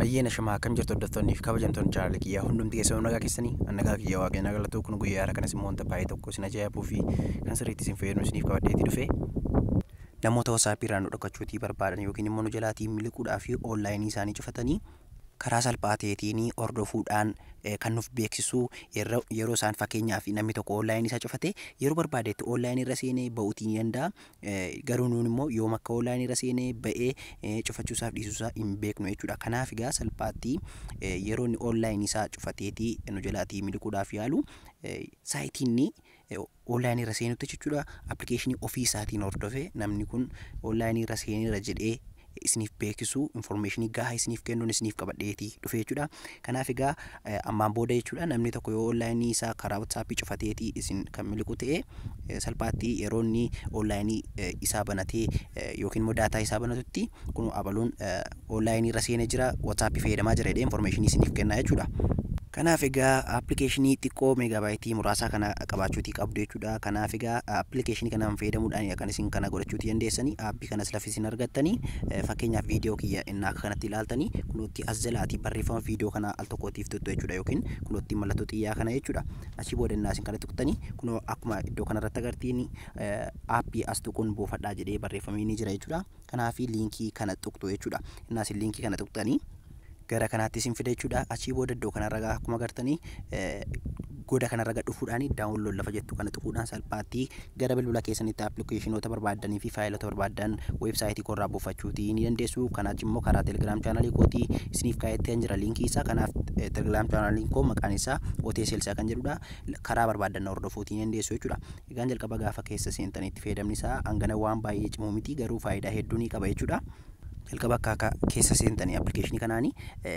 Ayyeen ashamaa akkam jirtu hordoftoonni fi kabajamtoonni chaanaalii kiyyaa hundumti keessanuu nagaa keessanii an nagaa kiyyaa waaqayyoon haa galatu kun guyyaa har'a kanas immoo wanta baay'ee tokko isin ajaa'ibuu fi kan sirriitti isin fayyadu isiniif qabadheeti dhufe namoota wasaapii irraa nu dhokkachuutii barbaadan yookiin immoo nu jalaatii miliquudhaa fi oonlaayinii isaanii cufatanii karaa salphaa ta'eetiin hordofuudhaan kan nuuf beeksisu yeroo isaan fakkeenyaaf namni tokko oonlaayinii isaa cufate yeroo barbaadetti oonlaayinii irra seenee ba'uutii ni danda'a Garuu nuun immoo yoom akka online irra seenee ba'ee cufachuu isaaf dhiisuu isaa hin beeknu jechuudha. Kanaaf egaa salphaatti yeroo inni online isaa cufateeti nu jalaatii miliquudhaaf yaalu saayitii inni online irra seenutti jechuudha appilikeeshinii ofii isaatiin hordofee namni kun online irra seeneera jedhee isiniif beekisuu information gahaa isiniif kennuun isiniif qabadheeti dhufe jechuudha. Kanaaf egaa ammaan booda jechuudha namni tokko yoo online isaa karaa WhatsApp cufateeti isin kan miliqu ta'e salphaatti yeroo inni online isaa banatee yookiin immoo daataa isaa banatutti kun abaluun online irra seene jira WhatsApp fayyadamaa jira jedhee information isiniif kenna jechuudha. Kanaaf egaa appilikeeshinii xiqqoo meegaabaayitii muraasaa kana qabaachuutii qabdu jechuudha. Kanaaf egaa appilikeeshinii kanaan fayyadamuudhaan kan isin kana godhachuutii dandeessanii kanas lafa isin argattanii fakkeenyaaf viidiyoo kiyya innaa akka kanatti ilaaltanii kunootti as jalaati barreeffama viidiyoo kanaa al tokkootiif tuttu jechuudha yookiin kunootti mallattoo xiyyaa kana jechuudha achii booda innaa isin kana tuqtanii kunoo akkuma iddoo kanarratti agartiin aappii as tuquun buufadhaa jedhee barreeffamee ni jira jechuudha kanaafi liinkii kana tuqtu jechuudha innaa isin liinkii kana tuqtanii gara kanaatti isin fida jechuudha. Achii booda iddoo kanarra gaa akkuma agartanii eh, goda kanarra gad dhufuudhaan daawunlood lafa jettu kana tuquudhaan salphaatti gara bilbila keessanitti appilikeeshinoota barbaaddanii fi faayilota barbaaddan weebsaayitii koorraa buufachuuti ni dandeessu. Kanaach immoo karaa telegiraam chaanalii kootii isiniif kaa'etti kan jira liinkii isaa. Kanaaf eh, telegiraam chaanaliin koo maqaan isaa Otee Seelsaa kan jedhudha. L- Karaa barbaaddan na hordofuuti ni dandeessu jechuudha. Egaan jalqaba gaafa keessa seentanitti fayyadamni isaa hangana waan baay'ee cimu miti garuu faayidaa hedduu ni qaba jechuudha. Jalqaba akka akka keessa seentani application kanaani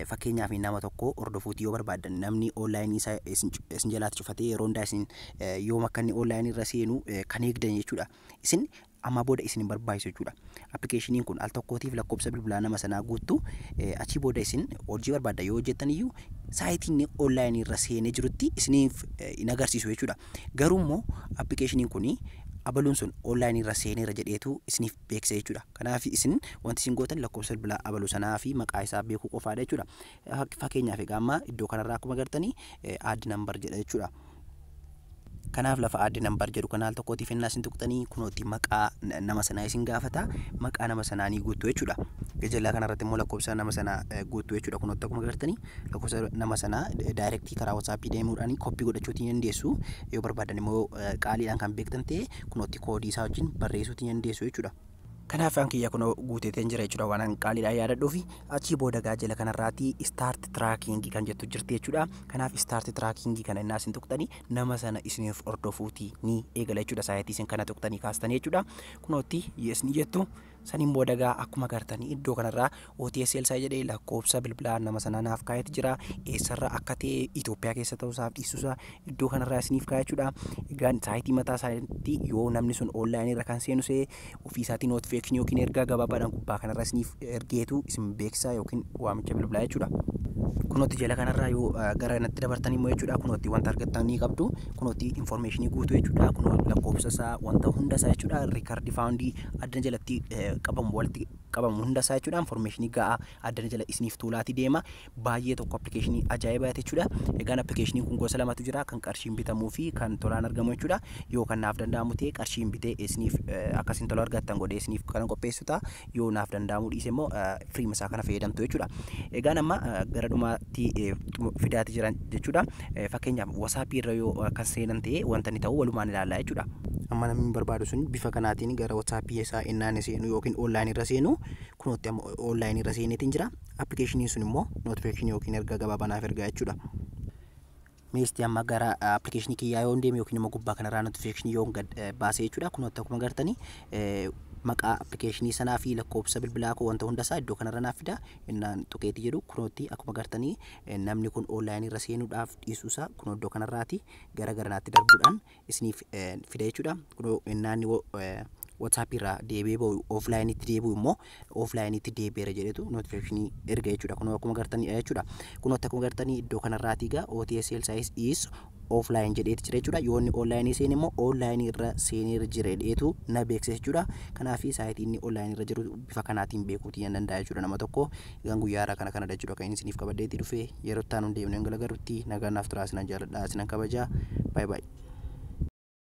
fakkeenyaaf nama tokko hordofuuti yoo barbaaddan namni online isa isin cu- isin jalaatti cufatee yeroo hundaa isin eh, yoom akka inni online irra seenu eh, kan eegdan jechuudha. Isin ammaa booda isin hin barbaachisu jechuudha. Appilikeeshiniin kun al tokkootiif lakkoofsa bilbilaa nama sanaa guuttu eh, achii booda isin hojii barbaadda yoo hojjettan iyyuu saayitii inni online irra seenee jirutti isiniif eh, hin agarsiisu jechuudha. Garuu immoo appilikeeshiniin kun abaluun sun online irra seeneera jedheetu isiniif beeksisa jechuudha. Kanaaf isin wanti isin gootan lakkoofsa bilbilaa abalu sanaa fi maqaa isaa beekuu qofaadha jechuudha. Fak- Fakkeenyaaf egaa amma iddoo kanarraa akkuma agartanii add number jedha jechuudha. Kanaaf lafa add number jedhu kana al tokkootiif ennaa isin tuqxanii kunootti maqaa na- nama sanaa isin gaafata. Maqaa nama sanaa ni guuttu jechuudha. Gajallaa kanarratti immoo lakkoofsa nama sanaa eh, guuttu jechuudha. Kunootti akkuma agartanii lakkoofsa nama sanaa daayirektii karaa WhatsApp deemuudhaan koppii godhachuu ni dandeessu. Yoo barbaadan immoo eh, qaaliidhaan kan beektan ta'e Kunootti koodii isaa wajjin barreessuutti ni dandeessu jechuudha. Kanaaf an kiyya kunoo guuteeteen jira jechuudha waan an qaaliidhaan yaadadhuufi achii booda gaa jala kanarraati start tracking kan jettu jirti jechuudha. Kanaaf start tracking kana innaa isin tuqxanii nama sana isiniif hordofuuti ni eegala jechuudha saayitii isin kana tuqxanii kaastanii jechuudha. Kunootti yes ni jettu. Saniin booda egaa akkuma agartanii iddoo kanarraa OTSL sa jedhee lakkoofsa bilbilaa nama sanaa naaf kaa'eeti jira. Eessarraa akka ta'e Itoophiyaa keessa ta'uu isaaf dhiisuu isaa iddoo kanarraa isiniif kaa'e jechuudha. Egaan saayitii mataa isaaniitti yoo namni sun online irra kan seenu se'e ofii isaatii notification yookiin ergaa gabaabaadhaan gubbaa kanarra isiniif ergeetu isin beeksisaa yookiin waamicha bilbilaa jechuudha. Kunootti jala kanarraa yoo eh, gara natti dabartan immoo jechuudha kunootti wanta argattan ni qabdu kunootti information guutuu jechuudha kunoo lakkoofsa isaa wanta hunda isaa jechuudha rikardi faawundii addana jalatti qabamu walitti qabamu hunda isaa jechuudha information ga'a addana jala isiniif tuulaati deema baay'ee tokko appilikeeshinii ajaa'ibaati jechuudha egaan appilikeeshiniin kun gosa lamatu jira kan qarshiin bitamuu fi kan tolaan argamu jechuudha yoo kan naaf danda'amu ta'e qarshiin bitee isiniif akkasiin tola argattan godhee isiniif kan qopheessu ta'a yoo naaf danda'amu dhiise immoo firii isaa kana fayyadamtu jechuudha egaan amma gara dhumaatti fidaati jiran jechuudha Fakkeenyaaf WhatsApp irra yoo kan seenan ta'e wanta inni ta'u walumaan ilaalla jechuudha. Amma namni hin barbaadu sun bifa kanaatiin gara WhatsApp isaa ennaan seenu yookiin online irra seenu kunootti amma online irra seeneetiin jira. Appilikeeshiniin sun immoo notification yookiin ergaa gabaabaa naaf ergaa jechuudha. Meestii amma gara appilikeeshinii kiyyaa yoo deeme yookiin immoo gubbaa kanarraa notification yoo gad baasee jechuudha. Kunootti akkuma gartanii maqaa appilikeeshinii sanaa fi lakkoofsa bilbilaa koo wanta hundasaa iddoo kanarra naaf fida innaan tuqeetii jedhu kunootti akkuma gartanii Namni kun online irra seenuudhaaf dhiisuu isaa kun iddoo kanarraati gara garanaatti darbuudhaan isiniif fida jechuudha. Kunoo naanni WhatsApp irraa deebi'ee ba'u offline itti deebi'u immoo offline itti deebi'eera jedhetu notification erga jechuudha. Kunoo akkuma gartanii jechuudha. Kunoo akkuma gartanii iddoo kanarraati egaa OTSL size is offline jedheeti jira jechuudha. Yoo inni online seene immoo online irra seeneera jira jedheetu na beeksisa jechuudha. Kanaaf saayitii inni online irra jiru bifa kanaatiin beekuutii nan danda'a jechuudha nama tokko. Egaan guyyaa irraa kana kanadha jechuudha kan inni isiniif qabadheetii dhufe yeroo itti aanu hin deemnee hin galagarrutti nagaa naaf turaa isinan jaaladha isinan kabajaa. Bye bye.